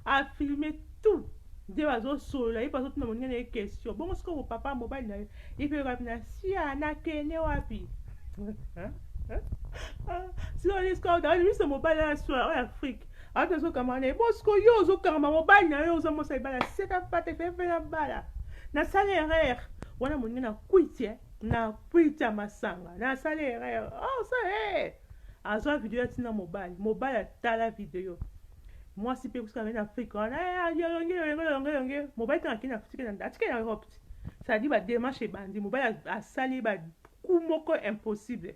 afilme tout nde bazosolola ye mpe azotuna moninga na ye question bongo sikoyo papa mobali na ye ye mpe yokapi na sia nakende wapi sikoyo sikoyo miso mobali na swa oyo afrike ata ozokangama na ye bosiko yo ozokangama mobali na yo oza mosa libala seka pate fefe na bala nasala erreur wana moninga na kwiti eh. na kwiti ya masanga nasala erreur oh, sa hey. Eh. azwa video atina mobali mobali atala video mwasi mpe kusika na afrika wana eh, yolonge yolonge yolonge yolonge mobali tanga kina atike na atike na europe te sadi bademarche ebandi mobali asali baku moko impossible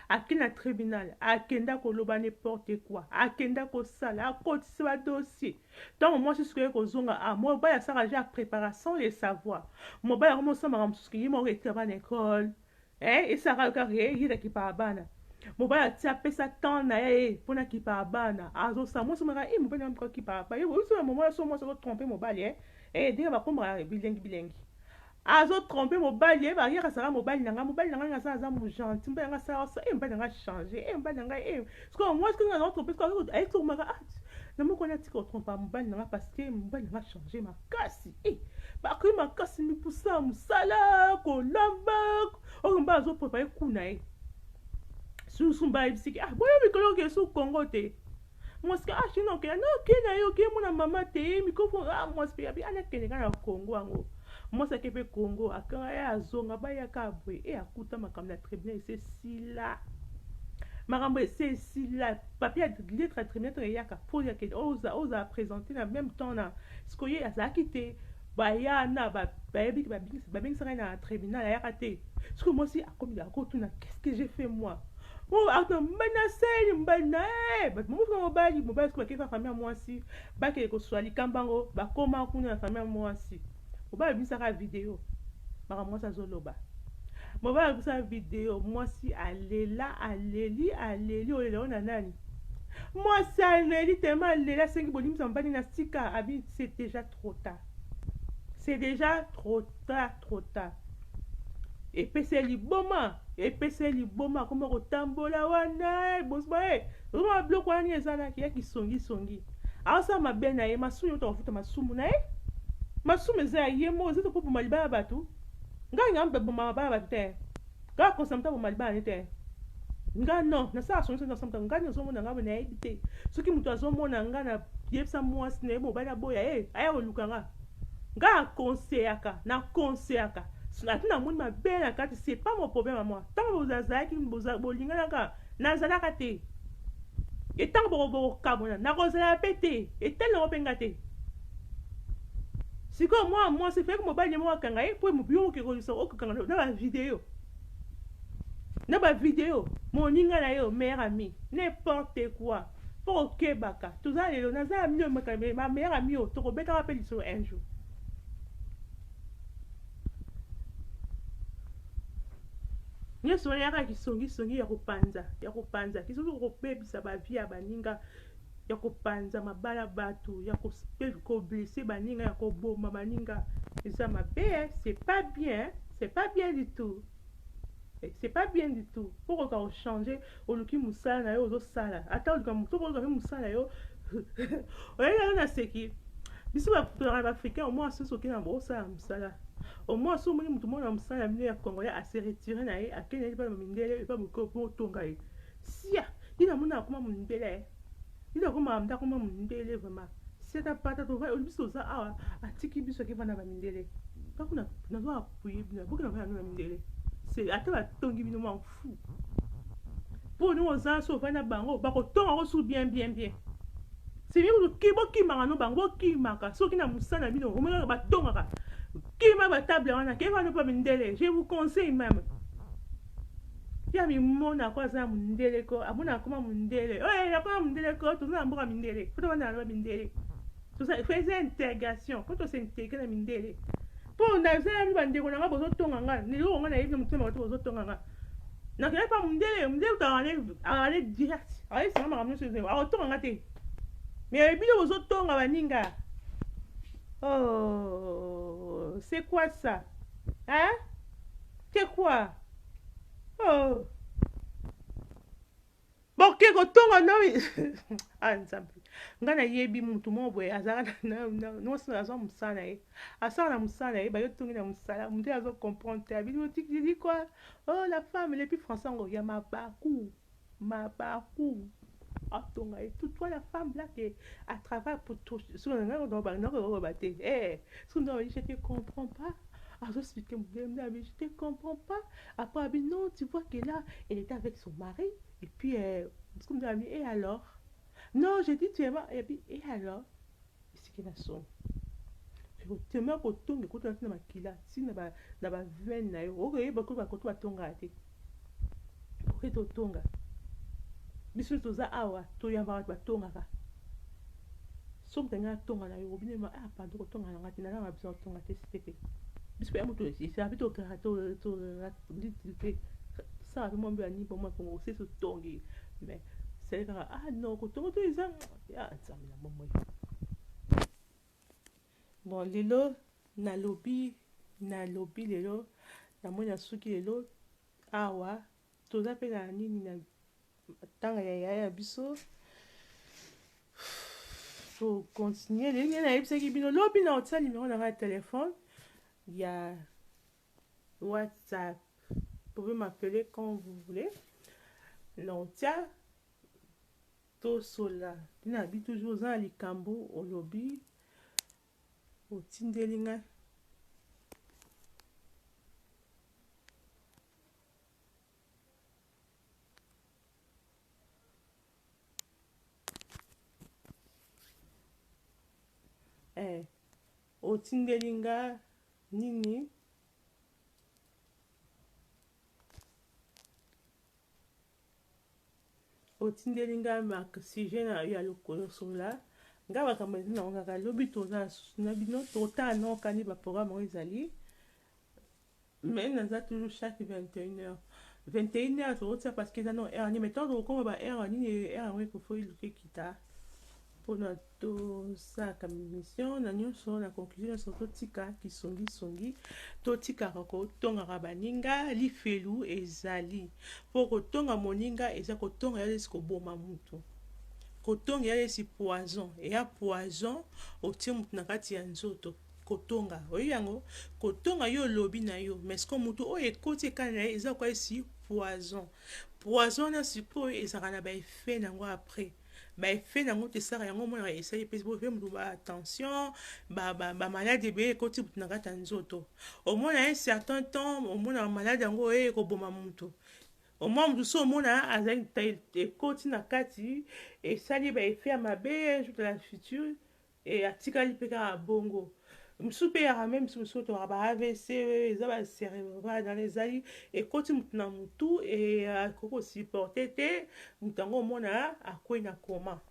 Ake na tribunal akenda koloba ne porte quoi akenda kosala akotisi ba dossier ntango mwasi suka ye kozonga a mobali asaka ja prepara sans le savoir mobali yango mosala makambo mosusu ke ye moko etira bana ekole eh, esaka yo kaka ye ye kakipaka bana mobali atia apesa temps na ye eh, mpo nakipaka bana azosala mwasi maka e eh, mobali yango akipaka bana oyebi soki mobali so mwasi azotrompe mobali e eh, ndenge bakomaka bilengi bilengi Azo trompe mobali eh ba yaka saka mobali na nga mobali na nga aza aza mu gentil mobali na nga sala sa eh mobali na nga changer eh mobali na nga eh siko moi siko na trompe siko azo ayi ko maka ah na moko na tika trompa mobali na nga parce que mobali na nga changer makasi eh ba ko makasi mi pusa musala ko lamba oyo mba azo préparer kuna eh susu mba yebisiki ah boyo mikolo ke su Congo te mwasi ka ah sino okenda no okenda na ye oke mona mama te ye mikofo ah mwasi mpe abi ana kende kaka na kongo yango mwasi ake mpe kongo akanga ye azonga bayaka boye e akuta makambo na tribunal ese sila makambo ese esila papier ya lettre ya tribunal ntango eyaka mpo yakende ozala présente na même temps na sikoye azalaki te Baya na ba bayebi ba babengisa ngai na tribunal ayaka te sikoyo mwasi akomi akotuna qu'est-ce que j'ai fait moi oh akotuna mobali na seli mobali na eh, bato momosuka mobali mobali sikoyo bakei na famille ya mwasi bakei koswa likambo yango bakoma kuna na famille ya mwasi mobali abimisaka video makambo mwasi azoloba mobali abimisa video mwasi alela aleli aleli olela ona nani mwasi aleli tema aleli asengi bolimisa mobali na sika abi c'est déjà trop tard c'est déjà trop tard trop tard epesa ye liboma epesa ye liboma akoma kotambola wana eh, bozba e eh, vraimen babiloko wana nini ezalaki ya kisongisongi aosala mabe na ye masumu yota kofuta masumu na ye masumu eza ya ye moko eza tokoboma libala bato ngai ngampe boma mabala bato te Kaka ko samta bo malibane te nga non na sala sonso na samta nga ni ozo mona nga na yebi te soki mutu azo mona nga na yebisa mwasi na ye mobali aboya ye eh, aya koluka nga nga na conseillaka na conseillaka ati na moni mabe na kati c'est pas mon problème à moi tant que bozalaki bolinganaka Nazalaka te. E ntango boko bokokabwana, nakozala mpe te. Etali nango mpe nga te. Sikoyo mwana mwasi efeki mobali ne moko akanga ye mpo yo okekolisa okokanga na bavideo na bavideo moninga na yo meilleur ami n'importe quoi mpo okebaka toza lelo naza ami oyo meilleur ami oyo tokobetaka mpe lisolo un jour nyonso wana yaka kisongisongi ya kopanza ya kopanza kisongi kokobebisa bavie ya baninga ya kopanza mabala bato ya koblese baninga ya koboma baninga eza mabe c'est pas bien c'est pas bien du tout Eh, c'est pas bien du tout mpo okoka kochange oluki mosala na yo ozosala ata oluka moto oluka mpe mosala yo oyebi yango naseki biso bakolaka na africain omoi asusu okei na bokosala mosala omoi asusu omoni moto moko na mosala ya bino ya congolais ase retire na ye akendaki epai na mindele epai botonga ye sia ye namoni akoma mondele Biso akoma amda akoma mundele vraiment. Seta pata to va biso za awa atiki biso ke vana ba mindele. Ba kuna na zo appuyer bino boki na vana na mindele. C'est ata ba tongi bino m'en fou. Po no za so vana bango ba ko tonga ko su bien bien bien. C'est bien que kibo kimaka no bango kimaka soki na musala bino omela ba tongaka. Kima ba table wana ke vana pa mindele. Je vous conseille même. Kia mimona ko aza mundele ko amona akoma mundele oye eh, akoma mundele ko toza na mboka mindele po tobanda na mindele toza faisait integration po to s'integrer na mindele po naza ya bandeko na nga bozo tonga nga lelo nga na yebi mutema bato bozo tonga nga na kaya pa mundele mundele to ale ale direct ale sanga makambo nyonso ezo ako tonga nga te mais bino bozo tonga baninga oh c'est quoi ça hein que quoi oh. boke kotonga no ah, nzambe ngai nayebi motu moko boye azalaka mwasi na azwa mosala na ye asala na mosala na ye bayo tongi na mosala motu azo comprendre te abidi otikidi kua oh la femme lepi français yango ya mabaku Mabaku atonga et tout toi la femme là que à travail pour tout ce que nanga dans ba nanga ba ba te eh ce que dans je te comprends pas à ce que me je te comprends pas après abi non tu vois que là elle était avec son mari et puis euh, ce que me et alors non je dis tu es et puis et alors Esiki na soni. Temo ya kotonga ekoti na makila ti na ba na ba veine na yo. Oko yeba ko ba koto ba tonga te. Oke to tonga. Biso toza awa to yamba ba tonga ka. So moto nga tonga na yo obine ma ah pardon ko tonga na ngati na na besoin tonga te stepe. Biso ya moto si sa bito ka to to te. Sa ba mo mbi ani bo ma ko se so tongi. Mais c'est ka ah non ko tonga to eza Ya nzambe na bomoi bon lelo nalobi nalobi lelo namoni nasuki lelo awa toza mpe na nini na ntanga ya yaya ya biso tocontinue leli ngai nayebisaki bino lobi na otia nimero na ngai ya telefone ya whatsapp pouvez m'appeler quand vous voulez na otia To sola ti na bi toujours oza na likambu olobi otindeli ngai. Eh, otindeli nga nini Otindeli nga ma sujet na ya lokolo sola nga makambo ezali nango kaka lobi toza susu na bino totala nao kani ba programme oyo ezali mais naza toujours chaque 21 heures 21 heures tozotia parce que eza no heure nini mais ntango tokokoma ba heure nini heure yango ekofo eluka ekita Pona to salaka mission na nionso na conclusion nionso totika kisongi songi totikaka kotongaka baninga lifelu ezali po kotonga moninga eza kotonga ya lesi koboma mutu kotonga ya lesi poison eya poison otie mutu na kati ya nzoto kotonga oyebi yango kotonga yo olobi na yo mais ko mutu oyo ekoti ekai na ye eza koka esi poison poison wana sikoyo ezalaka na baeffet na yango après ba effet nango te sara yango omona ba esali epesi bo mutu ba tension ba ba ba malade ebele ekoti mutu na kati ya nzoto omona un certain temps omona ba malade yango eye ekoboma mutu omona mutu so omona azali ekoti na kati esali ba effet ya mabe jour de la future Et atikali pe kaka bongo. Misusu pe eyaka meme misusu misusu tobaka ba avc eza ba cerebral wana ezali ekoti mutu na mutu et akoki ko supporter te mutu yango omona akweyi na coma.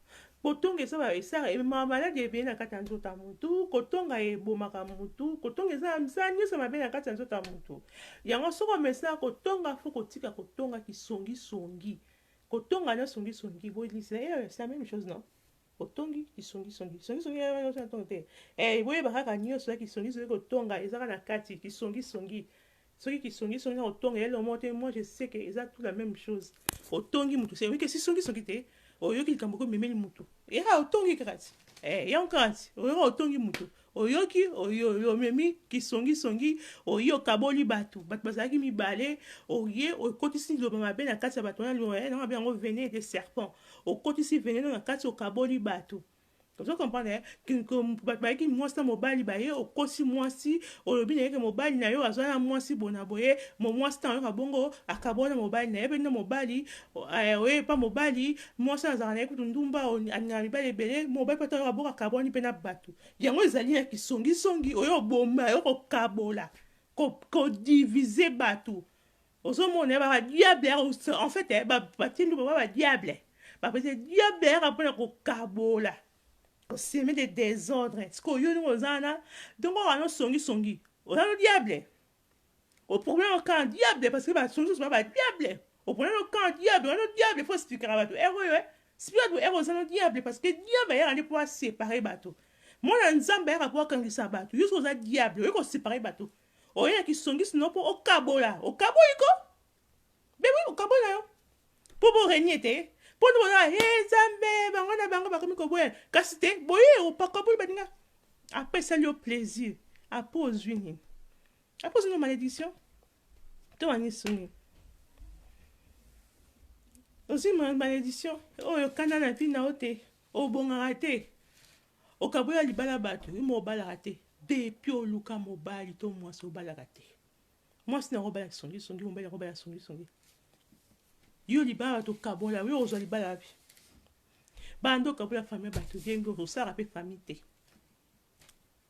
Kotonga eza ba esala emema maladi ebele na kati ya nzoto ya mutu, kotonga ebomaka mutu, kotonga eza na misala nionso ya mabe na kati ya nzoto ya mutu. Yango soki omesana kotonga faut kotika kotonga kisongi songi. Kotonga na songi songi boye c'est la meme chose non? Otongi kisongi songi kisongi songi eh, eh, eh, tongi te eh boyeba kaka nyoso ya kisongi songi kotonga ezaka na kati kisongi songi soki kisongi songi na kotonga yele omo te moi je sais que eza tout la même chose otongi mutu se oyike sisongi songi te oyoki likambo ko memeli mutu yaka otongi kaka ti eh yango kaka ti oyoka otongi mutu Oyoki oyoyo omemi kisongi songi oye okaboli batu batu bazalaki mibale oye okotisi liloba mabe na kati ya batu wana liloba na mabe yango venene de serpent okotisi venene na kati okaboli batu ozo comprendre batu bayaki mwasi na mobali baye okosi mwasi olobi na yeke mobali na yo azwa na mwasi bona boye mo mwasi ntango ayoka bongo akabola na mobali na ye pe na mobali Eeh oye epa mobali, mwasi wana azalaka naye kutu ndumba, alingaka mibali ebele, mobali pe ata oyo aboka akabuani pe na batu. Yango ezali na kisongi songi, oye oboma, oye kokabola, ko diviser batu, ozo mona eh, ba ba diable yaka ko, en fait eh, ba tie ndumba ba ba diable, ba pese diable yaka pona ko kabola, ko semer des desordres, sikoyo yo ndenge oza wana, donc oyo wana songi songi, oza no diable? oprobla no camp diable parce que bato mosusu ba ba diable oprobla no camp diable wana no diable fo esplikaka bato ere oyo e sipia bato ere oza no diable parce que diable ayaka nde mpo asepare bato mwana nzambe ayaka mpo akangisa bato yo soki oza diable oye kosepare bato oye na kisongisi no mpo okabola okaboli ko Mais oui, okaboli na yo. Mpo bo renie te. Mpo nde boza, he Nzambe, bango na bango bakomi koboya. Kasi te, boye opakaboli baninga. Après esali yo plaisir. Après ozwi nini? Après ozwi nini malédiction? To wanisu nini? Ozwi malédiction oyo kanda na vie na yo te. Obongaka te. Okabola libala bato, yo mo obalaka te. Depuis oluka mobali to mwasi obalaka te. Mwasi na yango abala kisongi songi, mobali na yango abala songi songi. Yo libala bato kabola, yo ozwa libala wapi? Banda okabola famille ya bato bien bien, osalaka mpe famille te.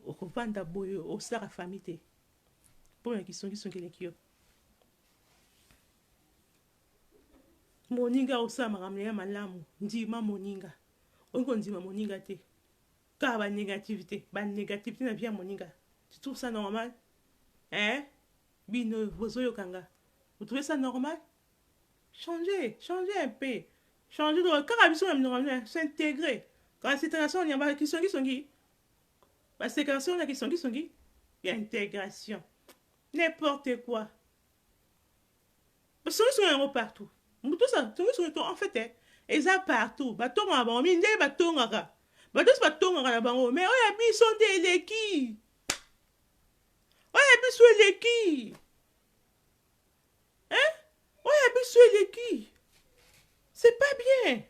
Okovanda boye osalaka famille te. Mpo na kisongi songi eleki yo. Moninga osala makambo na ye malamu, ndima moninga. Olingi kondima moninga te. Kaka ba negativite ba negativite na vie ya moninga tu trouve ça normal eeh bino bozo yoka nga vous trouvez ça normal changer changer un peu changer donc kaka biso na minoko na bino s'integrer kala situation ya ba kisongi songi ba separation na kisongi songi ya integration n'importe quoi Solution yango partout mutu osa tongi solution en fait eh, eza partout ba tonga na bango mindele ba tongaka ba tosi ba tongaka na bango mais oyo ya biso nde eleki oyo ya biso eleki hein oyo ya biso eleki c'est pas bien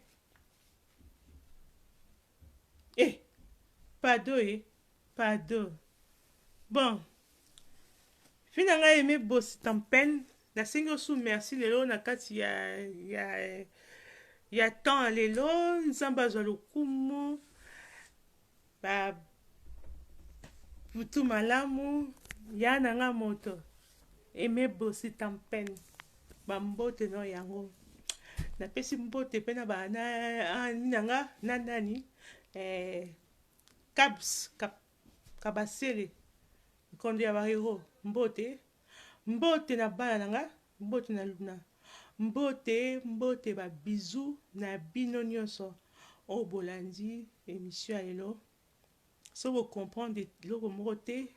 eh pado eh Pardon bon vie na ngai aime boss tampen na sengi yo su merci lelo na kati ya ya ya temps ya lelo nzambe azwa lokumu ba butu malamu ya na nga moto aime boss tampen ba mbote no yango napesi mbote mpe na ba na ami na nga na nani eh, Kabs, Kabasele, Nkondo ya Barero, Mbote, Mbote na bana na nga, Mbote na Luna, Mbote, Mbote ba bisous na bino nionso oyo bolandi emission ya lelo. Soki bo comprendre eloko moko te,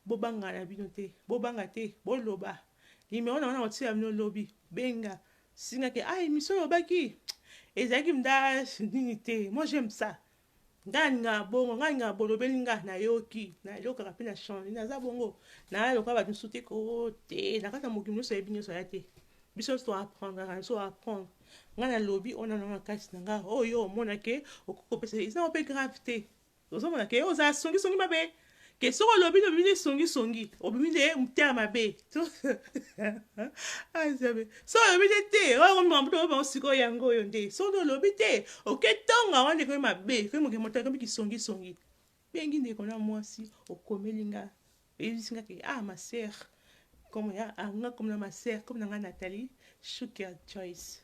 bobanga na bino te, bobanga te, boloba. Numero na nga nakotiela bino lobi, benga, singa ke ah emission olobaki ezalaki mda nini te, moi j'aime ça. Nga nalingaka bongo nga nalingaka bolobeli nga nayoki nayokaka pe na change naza bongo naya lokola bato mosusu te koo te na kati ya mokili nyonso ayebi nyonso aya te biso nyonso to apprendaka na biso apprendre nga nalobi oyo nananga kati na nga oyo omona ke okoki kopesa eza ope grave te ozomona ke oza songisongi mabe Ke soki olobi nde obimi nde songi songi obimi nde mutema mabe ah nzambe soki olobi nde te oyo ekomi makambo tokomi bango sikoyo yango oyo nde soki nde olobi te oke tonga wana ekomi mabe ekomi moke moto ekomi kisongi songi bengi ndeko na mwasi okomeli nga oyebisi nga ke ah ma sœur komo ya ah nga komo na ma sœur komo na nga Nathalie Shukia Joyce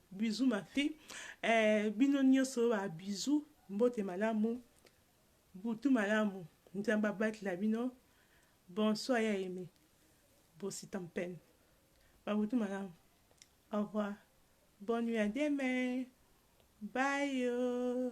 Bisous ma fille eh, bino nioso ba bisous mbote malamu butu malamu nzambe abatela bino bonsoir ya aime bosita mpene ba butu malamu au revoir bonne nuit à demain bye